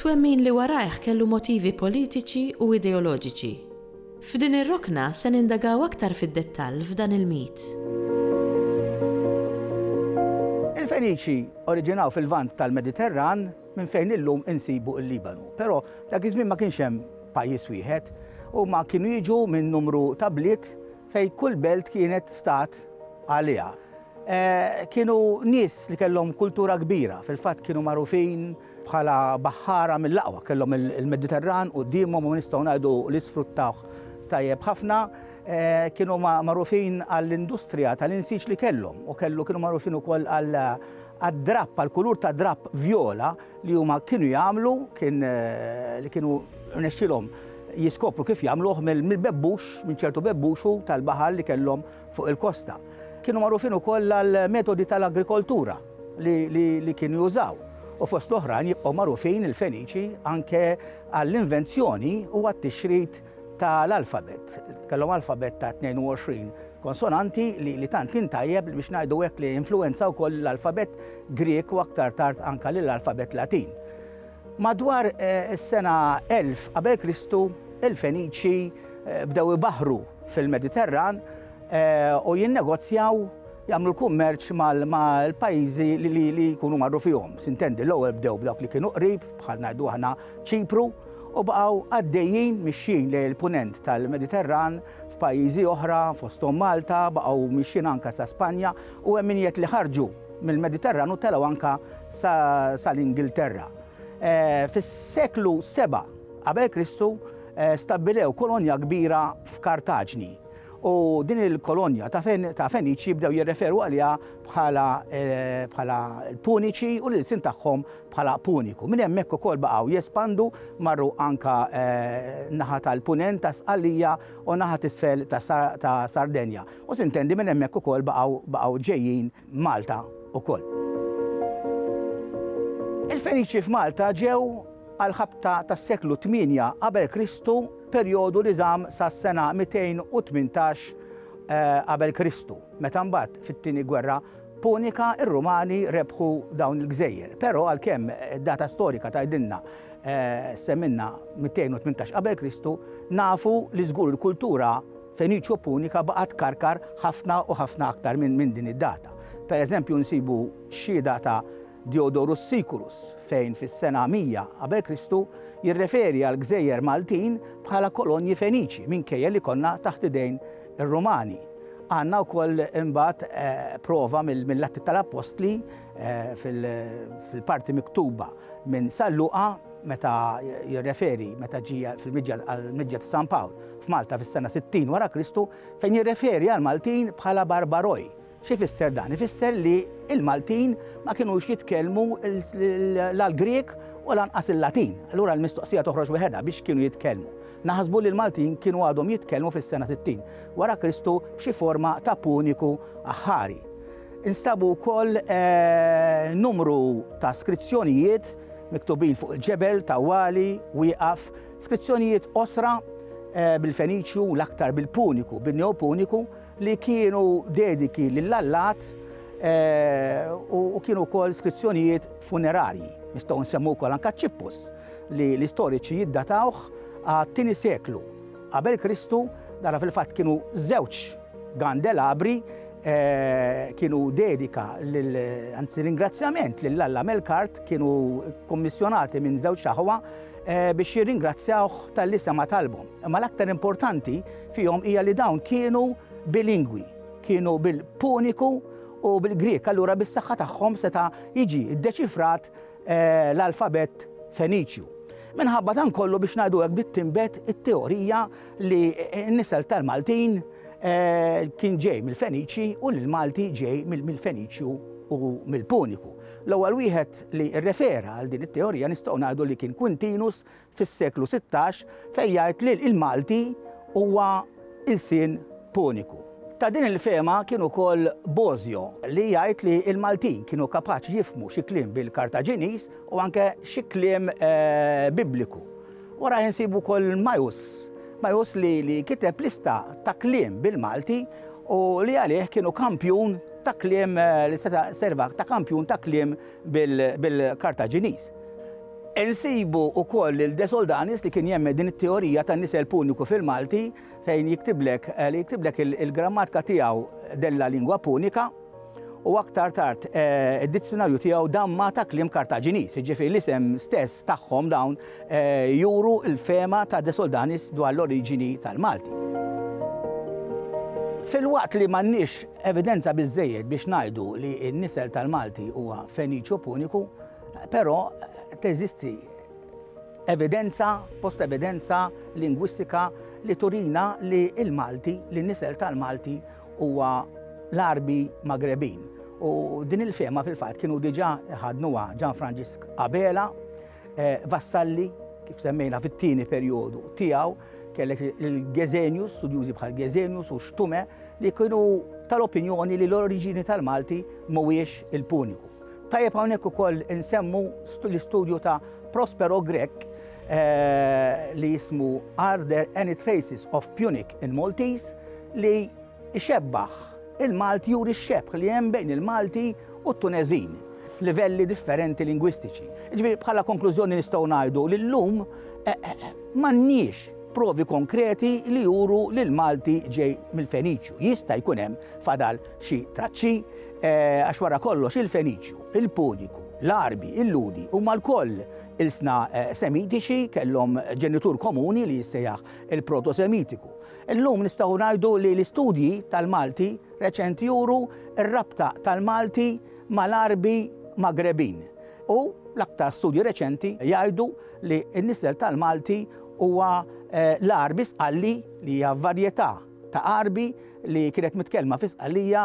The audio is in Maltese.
Twemmin li warajh kellu motivi politiċi u ideoloġiċi. F'din ir-rokna se nindagaw aktar fid-dettall f'dan il-mit. Il-Feniċi oriġinaw fil-Lvant tal-Mediterran minn fejn illum insibu l-Libanu. Però dak iż-żmien ma kienx hemm pajjiż wieħed. Huma kienu jiġu minn numru ta' bliet fejn kull belt kienet stat għaliha. Kienu nies li kellhom kultura kbira, fil-fatt kienu magħrufin Bħala baħħara mill-aqwa kellhom il-Mediterran quddiemhom u nistgħu ngħidu li sfruttawh tajjeb ħafna. Kienu magħrufin għall-industrija tal-insiġ li kellhom u kellu kienu magħrufin ukoll għad-drapp, għall-kulur ta' drapp vjola li huma kienu jagħmlu, kien li kienu rnexxielhom jiskopru kif jagħmluh mill-bebbux, minn ċertu bebbux tal-baħar li kellhom fuq il-kosta. Kienu magħrufin ukoll għall-metodi tal-agrikoltura li kienu jużaw u fost l-oħrajn jibqgħu magħrufin il-Feniċi anke għall-invenzjoni u għat-tixrid tal-alfabet. Kellhom alfabet ta' 22 konsonanti li, li tant kien tajjeb biex ngħidu hekk li influenza wkoll l-alfabet Grek u aktar tard anka lill-alfabet Latin. Madwar is-sena 1000 qabel Kristu, il-Feniċi bdew ibaħħru fil-Mediterran u jinnegozjaw jagħmlu l-kummerċ mal-pajjiżi li jkunu marru fihom. Sintendi, l-ewwel bdew b'dawk li kienu qrib, bħal ngħidu aħna Ċipru, u baqgħu għaddejjin mixjin lejn il-punent tal-Mediterran f'pajjiżi oħra fosthom Malta, baqgħu mixjin anke sa Spanja u hemm min jgħid li ħarġu Mill-Mediterran u telgħu anke sal-Ingilterra. Eh, fis-seklu 7 qabel Kristu eh, stabbilew kolonja kbira f'Kartaġni. U din il-kolonja ta' Feniċi bdew jirreferu għaliha bħala eh, l-Puniċi u l-sin tagħhom bħala Puniku. Minn hemmhekk ukoll baqgħu jespandu marru anka naħa tal-punent ta' Sqallija u naħa tisfel ta' Sardenja. U sintendi minn hemmhekk ukoll baqgħu baqgħu ġejjin Malta ukoll. Il-Feniċi f'Malta ġew għall-ħabta tas-seklu 8 qabel Kristu perjodu li żamm sas-sena 218 eh, qabel Kristu, meta mbagħad fit-tieni gwerra Punika ir-Rumani rebħu dawn il-gżejjer. Però għalkemm data storika tgħidilna eh, semminna 218 qabel Kristu, nafu li żgur il-kultura Feniċo Punika baqa' tkarkar ħafna u ħafna aktar minn din id-data. Per eżempju nsibu xhieda ta' Diodorus Siculus fejn fis-sena 100 qabel Kristu jirreferi għall-gżejjer Maltin bħala kolonji Feniċi minkejja li konna taħt idejn ir-Rumani. Għandna wkoll imbagħad prova mill-Atti tal-Appostli fil-parti miktuba minn San Luqa meta jirreferi meta ġie fil-miġja għall-miġja ta' San Pawl f'Malta fis-sena 60 wara Kristu fejn jirreferi għall-Maltin bħala barbaroi. Xi fisser dan? Ifisser li il-Maltin ma kinux jitkellmu l-Grieg u lanqas il-Latin. Allura l-mistoqsija toħroġ weħedha biex kienu jitkellmu. Naħsbu li l-Maltin kienu għadhom jitkellmu fis-sena 60 wara Kristu b'xi forma ta' puniku aħħari. Instabu wkoll numru ta' skrizzjonijiet miktubin fuq il-ġebel, tawwali, wieqaf, skrizzjonijiet qosra bil-Feniċju, l-aktar bil-Puniku, bin-Neopuniku, li kienu dediki lill-allat u kienu wkoll skrizzjonijiet funerarji. Nistgħu nsemmu wkoll anke ċippus li l-istoriċi jiddatawh għat-tieni seklu Qabel Kristu, nara fil-fatt kienu żewġ gandelabri kienu dedika anzi ringrazzjament lil Alla Melkart kienu kommissjonati minn żewġ aħwa biex jirringrazzjawh tal-li sema talbhom. Imma l-aktar importanti fihom hija li dawn kienu bilingwi, kienu bil-Puniku u bil-Grek, allura bis-saħħa tagħhom seta' jiġi ddeċifrat l-alfabett Feniċju. Minħabba dan kollu biex ngħidu hekk bdiet tinbet it-teorija li n-nisel tal-Maltin kien ġej mill-Feniċi u li l-Malti ġej mill-Feniċju u mill-Puniku. L-ewwel wieħed li rrefera għal din it-teorija nistgħu ngħidu li kien Quintinus fis-seklu sittax fejn jgħid li l-Malti huwa lsien Puniku. Ta' din il-fehma kien ukoll Bosio li jgħid li l-Maltin kienu kapaċi jifhmu xi kliem bil-Kartaġiniż u anke xi kliem Bibliku. Warajh insibu wkoll Majus, Majus li li kiteb lista ta' kliem bil-Malti u li għalih kienu kampjun ta' kliem li seta' serva ta' kampjun ta' kliem bil-Kartaġiniż. Insibu wkoll lil De Soldanis li kien jemmen din it-teorija tan-nisel Puniku fil-Malti fejn jiktiblek li jiktiblek il-grammatka tiegħu della lingua punica u aktar tard id-dizzjunarju tiegħu damma ta' kliem Kartaġiniż, jiġifieri l-isem stess tagħhom dawn juru l-fehma ta' De Soldanis dwar l-oriġini tal-Malti. Filwaqt li m'għandniex evidenza biżżejjed biex ngħidu li n-nisel tal-Malti huwa Feniċjo-Puniku, però teżisti evidenza, post-evidenza lingwistika li turina li l-Malti, li n-nisel tal-Malti huwa l-Għarbi Magrebin. U din il-fehma fil-fatt kienu diġà ħadnuha Ġan Franġisk Abela, Eh, Vassalli, kif semmejna fit-tieni perjodu tiegħu, kellek il-Gezenius, studjużi bħal Gezenius u Xtume, li kienu tal-opinjoni li l-oriġini tal-Malti mhuwiex il-Puniku. Tajjeb hawnhekk ukoll insemmu l-istudju ta' Prospero Grek eh, li jismu Are there any traces of Punic in Maltese li Ixebbah, Il-Malti juri x-xebħ li hemm bejn il-Malti u t-Tuneżin f'livelli differenti lingwistiċi. Jiġifieri bħala konklużjoni nistgħu ngħidu li llum m'għandniex provi konkreti li juru li l-Malti ġej mill-Feniċju. Jista' jkun hemm fadal xi traċċi għax wara kollox il-Feniċju, il-Puniku, l-Għarbi, il-Ludi huma lkoll ilsna Semitiċi kellhom ġenitur komuni li jissejjaħ il-Proto-Semitiku. Illum nistgħu ngħidu li l-istudji tal-Malti reċenti juru r-rabta tal-Malti mal-Għarbi Magrebin u l-aktar studji reċenti jgħidu li n-nisel tal-Malti huwa l-Għarbi Sqalli li hija varjetà ta' Għarbi li kienet mitkellma fi Sqallija